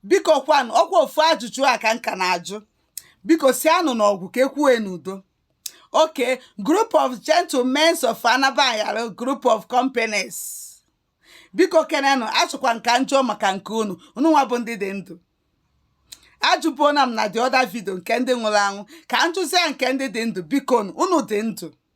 biko kwanụ ọkwa ofu ajụjụ a ka m ka na-ajụ biko si anụ n'ọgwụ ka ekwue n'udo okay group of gentlemen of anabanyara group of companies biko kenenụ achọkwa m ka m jụọ maka nke unu unu nwa bụ ndị dị ndụ ajụbuona m na the other video nke ndị nwụrụ anwụ ka m jụzie nke ndị dị ndụ biko unu dị ndụ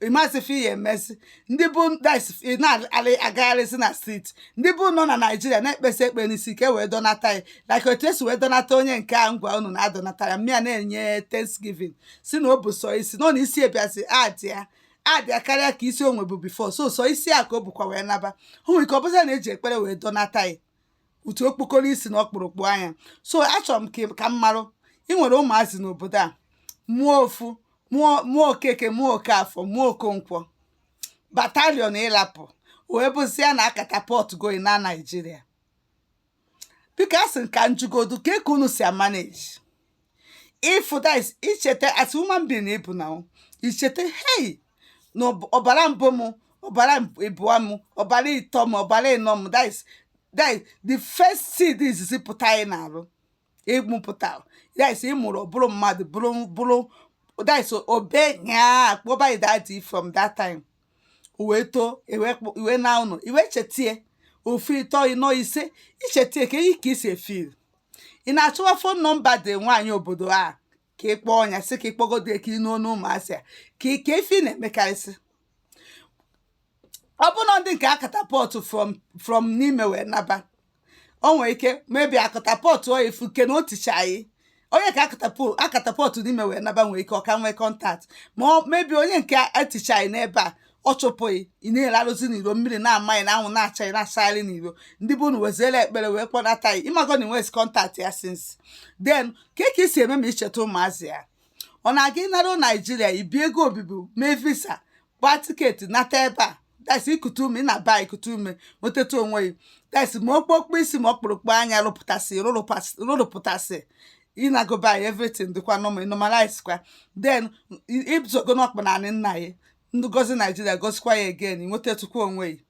ị ma sị ife ị ya-emezi ndị bụ na-agagharịzi na street ndị be unu na nigeria na-ekpesa ekpe n'isi ka e wee dọnata ya like otu esi wee dọnata onye nke a ngwa unu na-adọnata ya mmịa na-enye thanksgiving sị na ọ bụ sọ isi nọ na isi ebiazi adị ya adịa karịa ka isi o nwebu before sọsọ isi a ka o bukwa wee naba hụ nke ọ bụzi na eji ekpere wee dọnata ya otu okpokoro isi na ọkpụrụkpụ anya so achọrọ m ka ka m marụ ị nwere ụmụazị n'obodo a mụọ ofu mụọ mụọ okeke mụọ okafọ mụọ okonkwo batalion ị lapụ wee bụzie na a catapultgo ị na nigeria biko a sị m ka m jụgodu kee ka unu si amanage if that is i cheta as human being na ị bụ na ọ, i cheta hey na ọb- ọbara mbụ m ọbara ịbụọ m ọbara ịtọ m ọbara ịnọ m that is that is the first seed izizi pụta gị n'arụ ị mụpụta that is ị mụrụ ọ bụrụ mmadụ bụrụ bụrụ that is ọ bịa kpọba gị daddy from that time o wee too i wee kpọ- i wee naa ụlọ i wee chetie ofu ịtọ ịnọ ise i chetie kee ka i si efeel ị na-achọwa phone number the nwaanyị obodo a ka ị kpọọ ya sị ka ị kpọgodo ya ka ị nụ onu ụmụazị a ka ị ka efi na-emekarịsị ọ bụrụ na ndị nke a catapult from from n'ime wee naba o nwere ike maybe a catapult ọ efu nke na o tichaa gị onye ka a catapu- a catapult n'ime wee naba nwere ike ọ ka nwee contact ma maybe onye nke etichaa gị n'ebe a ọ chụpụ gị ị na-alarụzi n'iro mmiri na-ama gị na anwụ na-acha gị na-achagharị n'iro ndị be unu weziere ekpere wee kpọnata ya ị mago na i nwezi contact ya since then kee ka i si eme ma i cheta ụmụazị ya ọ na-aga ịnara nigeria ibi ego obibi mee visa gbaa ticket nata ebe a that's i kute ume ị naba i kute ume nwetata onwe gị that's ma okpokpo isi ma ọkpụrụkpụ anya rụpụtasị rụrụpụtasị ịnagoba ya everything dịkwa normal normalize kwa then ịbụzogo n'ọkpa n'anị nna ya ndị gozi nigeria gozikwa ya again i nwetatụkwa onwe gị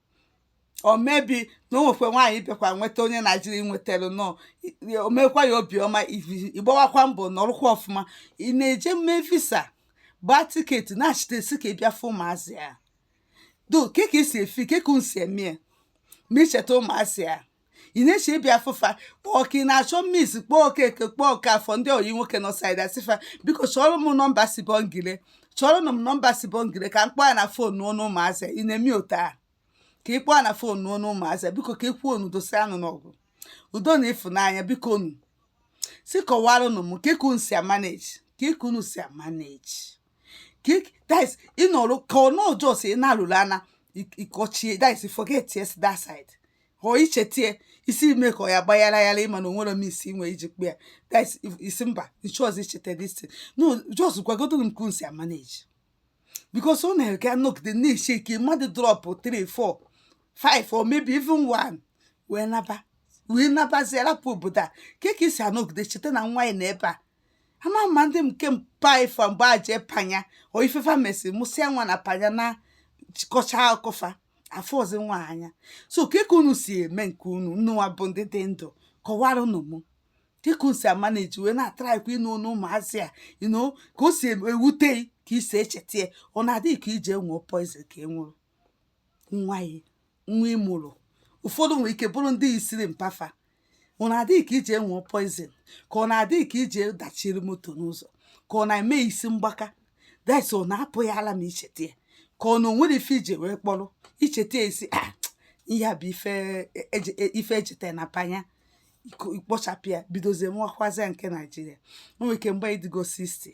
or maybe na o nwekwe nwaanyị bịakwa nweta onye nigeria nwetara nọ o mekwa ya obiọma ị gbawakwa mbọ nọrụkwa ọfụma ị na-eje mee visa gbaa ticket nachite sị ka ị bịa fụ ụmụazị a do kee ka e si efeel kee ka unu si eme ma i cheta ụmụazị a ị na-eche ịbịa afụ fa ọ ka ị na-achọ means kpọọ Okeke kpọọ Okafọ ndị ọyị nwoke nọ side a sị fa biko chọọrọ m nọmba Sibongile chọọrọ m nọmba Sibongile ka m kpọọ ya na fon nụ ọnụ ụmụazị ị na-eme otu a ka ị kpọọ ya na fon nụ ọnụ ụmụazị biko ka ị kwuo unu dosa anụ n'ọgụ udo na ịfụnanya biko nu si kọwara unu m kee ka unu si amanage kee ka unu si amanage that is ị nọrọ ka ọ nọ just ị na-alụrụ ana ịkọchie that is forget yes that side ọọ i chetie isi eme ka ọ ya gbaghara aghara ị ma na o nwere m isi nwe iji kpe ya that is ị sị mba ị chọọzị icheta this thing no just gwagodo m ka unu si amanage because ọ na-eke anọgide na-eche ike mmadụ drop 3 4 5 or maybe even 1 wee naba wee nabazie rapụ obodo a kee ka ị si anọgide cheta na nwa ị nọ ebe a ama ma ndị nke mpa ị fa mgbe a jee Panya o ife fa mesịrị mụsịa nwa na Panya nakọchaa akụ fa afụọzị nwa anya so kee ka unu si eme nke unu nwa bụ ndị dị ndụ kọwara nụ mụ kee ka unu si amanage wee na-atraịkwa ịnụ ọnụ ụmụazị a ino ka o si ewute ka ị si echeta ya ọ na-adị gị ka ị je nwụọ poison ka ị nwụrụ nwa ị nwa ị mụrụ ụfọdụ nwere ike bụrụ ndị isiri mpa fa ọ na-adị gị ka ị je nwụọ poison ka ọ na-adị gị ka ị je dachiri moto n'ụzọ ka ọ na-eme isi mgbaka that's ọ na-apụ ya ala ma i cheta ya ka ọ na o nwere ife i ji wee kpọrọ icheta ya ị sị ah, ihe a bụ ife e, e, e, jeta na Panya i kpochapụ ya bidozie mụwakwazịa nke Nigeria o nwere ike mgbe ị dịgo 60